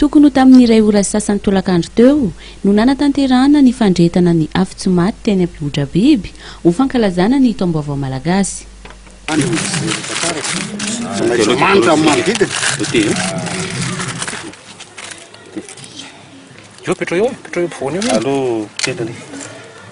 Tokony ho tamin'ny iray ora sasany tolakandro teo no nanatanterahana ny fandrehetana ny afo-tsy maty teny Ampihodrabiby ho fankalazana ny Taombaovao Malagasy.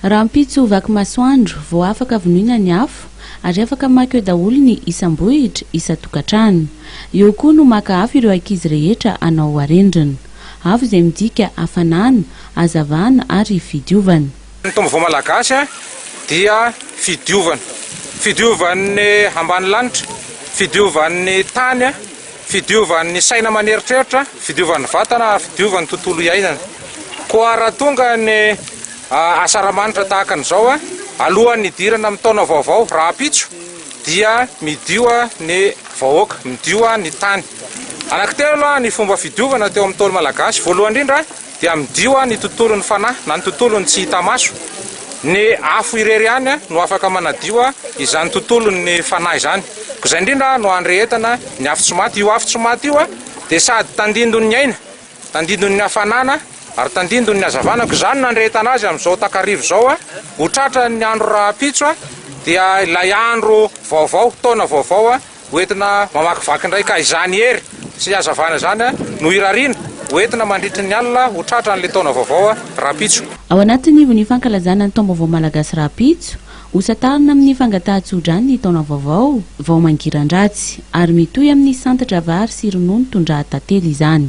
Rahampitso ho vaky masoandro vao afaka vonoina ny afo ary afaka maka eo daholo ny isam-bohitra, isan-tokantrano. Eo koa no maka afo ireo ankizy rehetra hanao harendrina. Afo izay midika hafanana, hazavana ary fidiovana. Ny taom-baovao malagasy dia fidiovana. Fidiovan'ny ambanilanitra, fidiovan'ny tany. Fidiovan'ny saina aman'eritreritra, fidiovan'ny vatana ary fidiovan'ny tontolo iainana. Koa raha tonga ny asaramanitra tahaka an'izao alohan'ny hidirana amin'ny taona vaovao rahampitso dia midio ny vahoaka, midio ny tany. Anankitelo ny fomba fidiovana teo amin'ny Ntaolo Malagasy. Voalohany indrindra, Dia amidio ny tontolon'ny fanahy na ny tontolon'ny tsy hita maso. Ny afo irery ihany no afaka manadio izany tontolon'ny fanahy izany. Koa izay indrindra no andrehetana ny afo tsy maty. Io afo tsy maty io dia sady tandindon'ny aina, tandindon'ny hafanana ary tandindon'ny hazavana. Koa izany no andrehetana azy amin'izao takariva izao. Ho tratran'ny andro rahampitso dia ilay andro vaovao, taona vaovao. Ho entina mamakivaky indray ka izany hery sy hazavana izany no irariana ho entina mandritry ny alina ho tratran'ilay taona vaovao rahampitso. Ao anatin'ny ivon'ny fankalazana ny Taom-baovao Malagasy rahampitso, hosatarina amin'ny fangatahan-tsoa-drano ny taona vaovao vao mangiran-dratsy, ary mitohy amin'ny santatra vary sy ronono tondraha tantely izany.